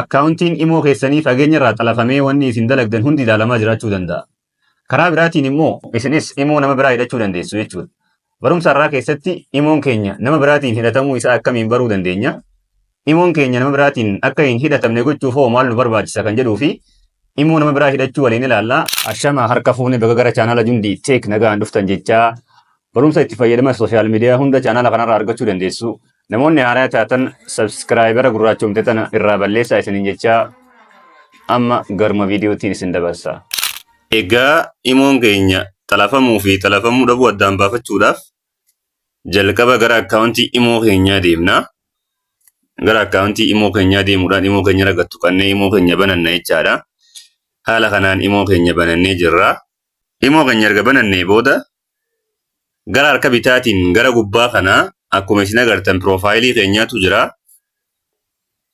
akkaawuntiin imoo keessanii fageenya irraa xalafamee wanni isin dalagdan hundi ilaalamaa jiraachuu danda'a. Karaa biraatiin immoo isinis imoo nama biraa hidhachuu dandeessu jechuudha. Barumsa har'aa keessatti imoon keenya nama biraatiin hidhatamuu isaa akkamiin baruu dandeenya? Imoon keenya nama biraatiin akka hin hidhatamne gochuuf hoo maal nu barbaachisa kan jedhuu fi imoo nama biraa hidhachuu waliin ilaalla. Ashama harka fuune baga gara chaanaala Jundii Teek nagaan dhuftan jechaa Barumsa itti fayyadama sooshaal miidiyaa hunda chaanaala kanarraa argachuu dandeessu. Namoonni haaraa taatan sabskiraayibara gurraachomte tana irraa balleessaa isiniin jechaa amma garuma viidiyootiin isin dabarsa. Egaa imoon keenya xalafamuu fi xalafamuu dhabuu addaan baafachuudhaaf jalqaba gara akkaawuntii imoo keenyaa deemna. Gara akkaawuntii imoo keenyaa deemuudhaan imoo keenya irra tuqannee imoo keenya bananna jechaadha. Haala kanaan imoo keenya banannee jirra. Imoo keenya erga banannee booda gara harka bitaatiin gara gubbaa kana akkuma isin agartan piroofaayilii keenyaatu jira.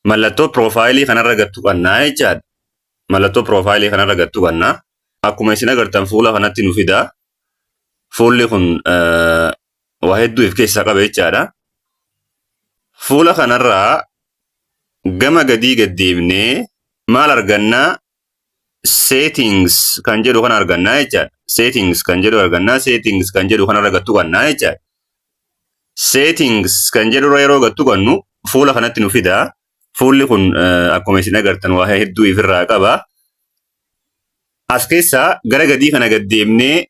Mallattoo piroofaayilii kanarra gad tuqannaa jechaadha. Mallattoo piroofaayilii kanarra gad tuqannaa. Akkuma isin agartan fuula kanatti nu fida. Fuulli kun waa hedduu of keessaa qaba jechaadha. Fuula kanarraa gama gadii gad deemnee maal argannaa? settings kan jedhu kana argannaa jechaadha. Settings kan jedhu argannaa settings kan jedhu kanarra gattu qannaa jechaadha. Settings kan jedhurra yeroo gattu qannu fuula kanatti nu fida. Fuulli kun akkuma isin agartan waa hedduu ifirraa qaba. As keessaa gara gadii kana gad deemnee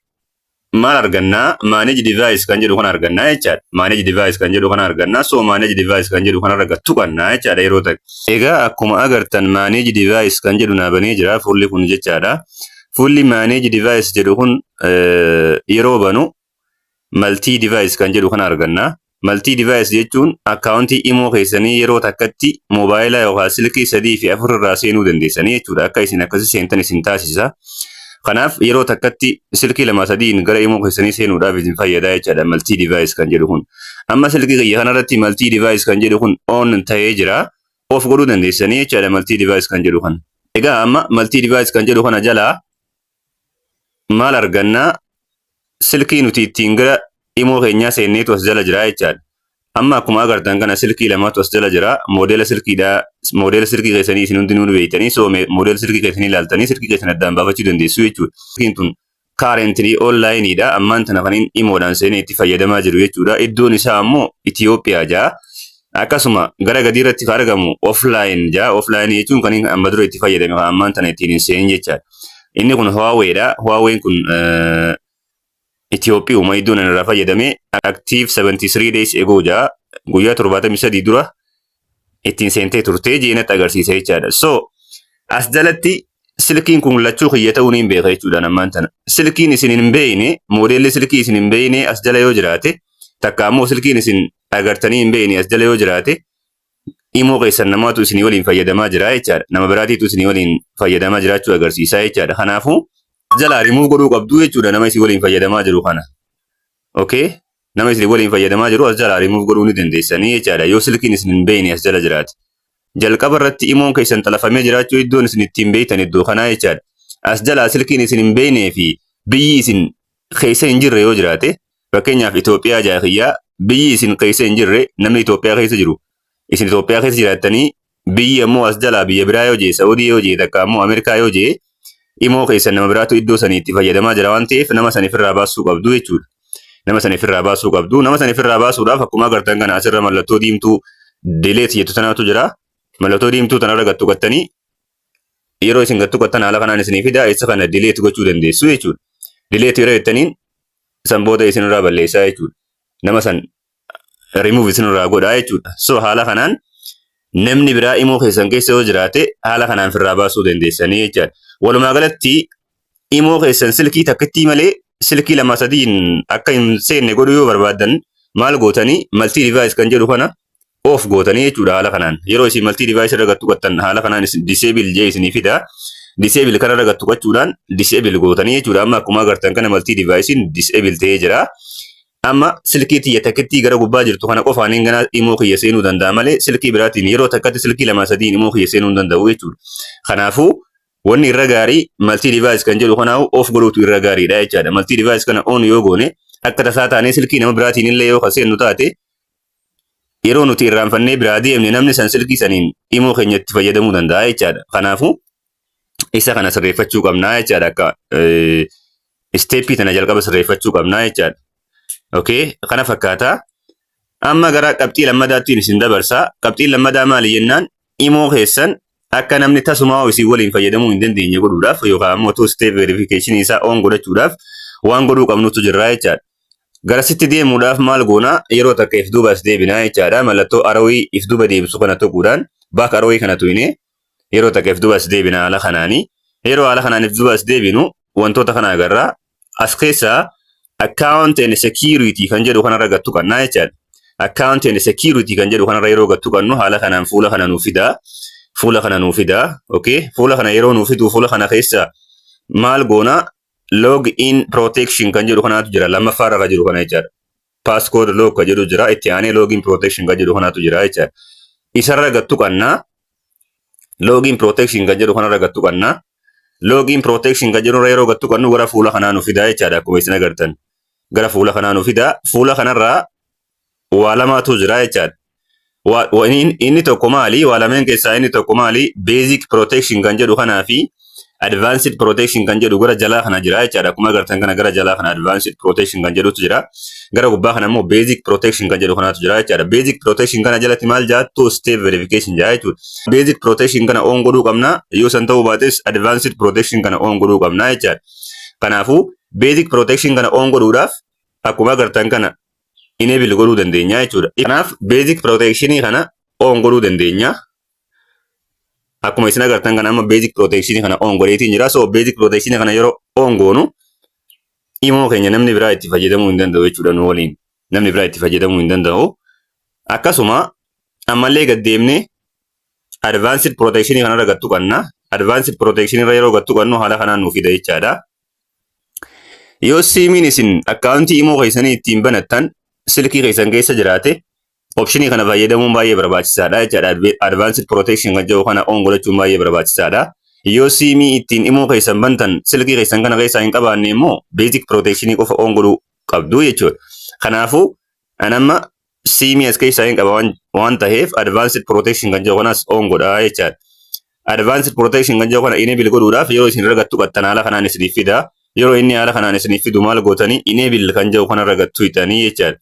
maal argannaa manage device kan jedhu kana argannaa jechaadha. Manage device kan jedhu kana argannaa so manage device kan jedhu kanarra gad tuqannaa jechaadha yeroo takka. Egaa akkuma agartan manage device kan jedhu naa banee jira fuulli kun jechaadha. Fuulli manage device jedhu kun yeroo banu multi device kan jedhu kana argannaa. Multi device jechuun akkaawuntii imoo keessanii yeroo takkatti moobaayila yookaan silkii sadii fi afur irraa seenuu dandeessanii jechuudha. Akka isin akkasi seentan isin taasisa. Kanaaf yeroo takkatti silkii lama sadiin gara imoo keessanii seenuudhaaf isin fayyada jechaadha multi device kan jedhu kun. Amma silkii kiyya kanarratti multi device kan jedhu kun on ta'ee jira. Of godhuu dandeessanii jechaadha multi device kan jedhu kan. Egaa amma multi device kan jedhu kana jalaa maal arganna silkii nuti ittiin gara imoo keenyaa seenneetu as jala jira jechaadha. Amma akkuma agartan kana silkii lamatu as jala jira. Moodeela silkiidha. Moodeela silkii keessanii isin hundinuu ni beektanii. So moodeela silkii keessanii ilaaltanii silkii keessan addaan baafachuu dandeessu jechuudha. Silkiin tun currently online dha. Ammaan tana kan inni imoodhaan seenee itti fayyadamaa jiru jechuudha. Iddoon isaa ammoo Itoophiyaa jaa. Akkasuma gara gadii irratti kan argamu offline jaa offline jechuun kan inni amma dura itti fayyadame kan ammaan tana ittiin hin seenin jechaadha. Inni kun Huawei dha. Huawei kun eh, Itoophiyauma iddoon ani irraa fayyadame active 73 days ago jaa guyyaa 73 dura ittiin seentee turtee jeenatti agarsiisa jechaadha. So as jalatti silkiin kun lachuu kiyya ta'uu ni beeka jechuudha ammaan tana. Silkiin isin hin beekne moodeelli silkii isin hin beekne as jala yoo jiraate takka ammoo silkiin isin agartanii hin beekne as jala yoo jiraate imoo keessan namaatu isinii waliin fayyadamaa jira jechaadha. Nama biraatiitu isinii waliin fayyadamaa jiraachuu agarsiisaa jechaadha. Kanaafuu jalaa rimuuf godhuu qabduu jechuudha nama isin waliin fayyadamaa jiru kana. Okay? Nama isin waliin fayyadamaa jiru as jalaa rimuuf godhuu ni dandeessanii jechaadha. Yoo silkiin isin hin beekne as jala jiraate. Jalqaba irratti imoon keessan xalafamee jiraachuu iddoon isin ittiin beektan iddoo kanaa jechaadha. As jalaa silkiin isin hin beeknee fi biyyi isin keessa hin jirre yoo jiraate Fakkeenyaaf Itoophiyaa jaa kiyyaa biyyi isin keessa hin jirre namni Itoophiyaa keessa jiru isin Itoophiyaa keessa jiraattanii biyyi ammoo as jalaa biyya biraa yoo jee Saudii yoo jee takka ammoo Ameerikaa yoo jee imoo keessan nama biraatu iddoo sanii itti fayyadamaa jira waan ta'eef nama saniif irraa baasuu qabdu jechuudha. Nama saniif irraa baasuu qabdu. Nama saniif irraa baasuudhaaf akkuma agartan kana asirra mallattoo diimtuu dileet jettu tanaatu jira. Mallattoo diimtuu tanarra gattu qattanii yeroo isin gattu qattan haala kanaan isinii fida isa kana dileet gochuu dandeessu jechuudha. Dileet yeroo jettaniin san booda isinirraa balleessaa jechuudha. Nama san remove isinirraa godhaa jechuudha. So haala kanaan namni biraa imoo keessan keessa yoo jiraate haala kanaan firraa baasuu dandeessanii jechaadha. Walumaa galatti imoo keessan silkii takkittii malee silkii lama sadiin akka hin seenne godhuu yoo barbaaddan maal gootanii maltii device kan jedhu kana off gootanii jechuudha haala kanaan yeroo isin maltii device irra gattu gattan haala kanaan disable jee isinii fida disable kana irra gattu gachuudhaan disable gootanii jechuudha amma akkuma agartan kana maltii devicein disable ta'ee jira amma silkii tiyya takkittii gara gubbaa jirtu kana qofaan hin ganaa imoo kiyya seenuu danda'a malee silkii biraatiin yeroo takkatti silkii lama sadiin imoo kiyya seenuu hin danda'u jechuudha kanaafuu wanni irra gaarii maltii device kan jedhu kanaa'u off godhuutu irra gaariidha jechaadha maltii device kana on yoo goone akka tasaa taanee silkii nama biraatiin illee yoo kan seennu taate Yeroo nuti irraanfannee biraa deemne namni san silkii saniin imoo keenya itti fayyadamuu danda'a jechaadha. Kanaafuu isa kana sirreeffachuu qabnaa jechaadha akka isteeppii tana jalqaba sirreeffachuu qabnaa jechaadha. Okay, kana fakkaata. Amma gara qabxii lammadaatti isin dabarsa. Qabxiin lammadaa maali jennaan imoo keessan akka namni tasumaa isin waliin fayyadamuu hin dandeenye godhuudhaaf yookaan ammoo two step verification isaa on godhachuudhaaf waan godhuu qabnutu jirraa jechaadha. Garasitti deemuudhaaf maal goonaa yeroo takka if duuba as deebinaa jechaadha. Mallattoo arawii if duuba deebisu kana tuquudhaan baak arawii kana tuqinee yeroo takka if duuba as deebinaa haala kanaanii. Yeroo haala kanaan if duuba as deebinu wantoota kana agarraa As keessaa account and security kan jedhu kanarra gad tuqannaa jechaadha. Account and security kan jedhu kanarra yeroo gad tuqannu haala kanaan fuula kana nuuf fidaa. Fuula kana nuuf fidaa. Okay. Fuula kana yeroo nuuf fiduu fuula kana keessaa maal goonaa log in protection kan jedhu kanaatu jira lammaffaarra kan jiru kana jechaadha. Passcode lock ka jedhu jira. Itti aanee login protection ka jedhu kanatu jira jecha. Isarra gad tuqanna. Login protection ka jedhu kanarra gad tuqanna. Login protection ka jedhurra yeroo gad tuqannu gara fuula kanaa nu fidaa jechaadha akkuma isin agartan. Gara fuula kanaa nu fidaa. Fuula kanarraa waa lamaatu jira jechaadha. Wa- wa- inni inni tokko maali? Waa lameen keessaa inni tokko maali? Basic protection kan jedhu kanaa fi advanced protection kan jedhu gara jalaa kana jira jechaadha. Akkuma agartan kana gara jalaa kana advanced protection kan jedhutu jira. Gara gubbaa kana immoo basic protection kan jedhu kanatu jira jechaadha. Basic protection kana jalatti maal jaa two step verification jaa jechuudha. Basic protection kana on godhuu qabna. Yoo san ta'uu baates advanced protection kana on godhuu qabna jechaadha. Kanaafuu basic protection kana on godhuudhaaf akkuma agartan kana enable godhuu dandeenya jechuudha. Kanaaf basic protection kana on godhuu dandeenya. Akkuma isin agartan kana amma basic protection kana on godheetiin jira. So basic protection kana yeroo on goonu imoo keenya namni biraa itti fayyadamuu hin danda'u jechuudha nu waliin. Namni biraa itti fayyadamuu hin danda'u. Akkasuma ammallee gad deemnee advanced protection kanarra gad tuqanna. Advanced protection irra yeroo gad tuqannu haala kanaan nuuf fida jechaadha. Yoo siimiin isin akkaawuntii imoo keessanii ittiin banattan silkii keessan keessa jiraate opshinii kana fayyadamuun baay'ee barbaachisaadha jechaadha. Advanced protection kan jedhu kana on godhachuun baay'ee barbaachisaadha. Yoo siimii ittiin imoo keessan bantan silkii keessan kana keessaa hin qabaanne immoo basic protection qofa on godhuu qabdu jechuudha. Kanaafuu an amma siimii as keessaa hin qaba waan- waan taheef advanced protection kan jedhu kanas on godhaa jechaadha. Advanced protection kan jedhu kana enable godhuudhaaf yeroo isin irra gattu qattan haala kanaan isiniif fida. Yeroo inni haala kanaan isiniif fidu maal gootanii enable kan jedhu kanarra gattu hidhanii jechaadha.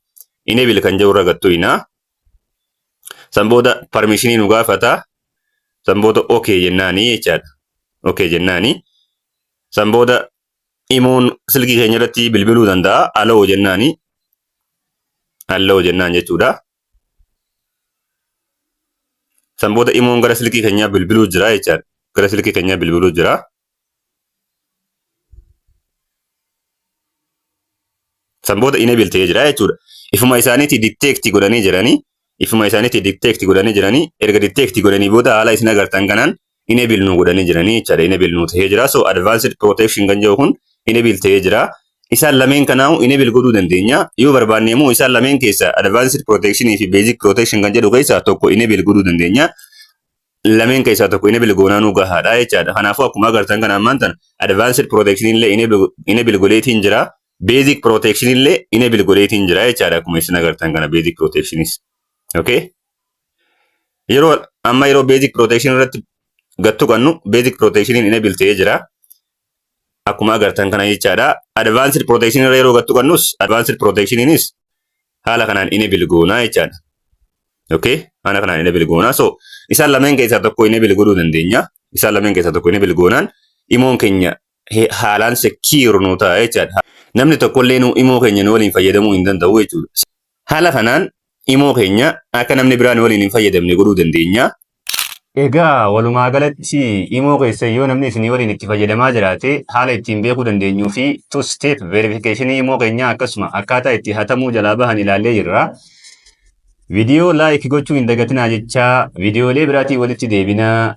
Enable kan jedhu irra gattu hidhaa. San booda permissionii nu gaafata. San booda okay jennaanii jechaadha. Okay jennaanii. San booda Imoon silkii keenya irratti bilbiluu danda'a. Aloo jennaani. Aloo jennaan jechuudha. San booda imoon gara silkii keenyaa bilbiluu jira jechaan. Gara silkii keenyaa bilbiluu jira. San booda enable ta'ee jira jechuudha. Ifuma isaaniitii detect godhanii jiranii. Ifuma isaaniitii detect godhanii jiranii. Erga detect godhanii booda haala isin agartan kanaan enable nuu godhanii jiranii jechaadha enable nuu ta'ee jira so advanced protection kan jedhu kun enable ta'ee jira isaan lameen kanaahu enable godhuu dandeenya yoo barbaanne immoo isaan lameen keessa advanced protection fi basic protection kan jedhu keessaa tokko enable godhuu dandeenya lameen keessaa tokko enable goonaa nuu gahaadha jechaadha kanaafuu akkuma agartan kana ammaan tana advanced protection illee enable- enable godheetiin jira basic protection illee enable godheetiin jira jechaadha akkuma isin agartan kana basic protectionis okay Yeroo amma yeroo basic protection irratti gad tuqannu basic protection enable ta'ee jira. Akkuma agartan kana jechaadha. Advanced protection irra yeroo gad tuqannus advanced protection inis haala kanaan enable goonaa jechaadha. Okay? Haala kanaan enable goonaa. So isaan lameen keessaa tokko enable godhuu dandeenya. Isaan lameen keessaa tokko enable goonaan imoon keenya haalaan secure nu ta'a jechaadha. Namni tokkollee nu imoo keenya nu waliin fayyadamuu hin danda'u jechuudha. Haala kanaan imoo keenya akka namni biraa nu waliin hin fayyadamne godhuu dandeenya. Egaa walumaa galatti imoo keessa yoo namni isinii waliin itti fayyadamaa jiraate haala ittiin beekuu dandeenyuu fi two step verification imoo keenyaa akkasuma akkaataa itti hatamuu jalaa bahan ilaallee jirra. Viidiyoo like gochuu hin dagatinaa jechaa viidiyoolee biraatiin walitti deebinaa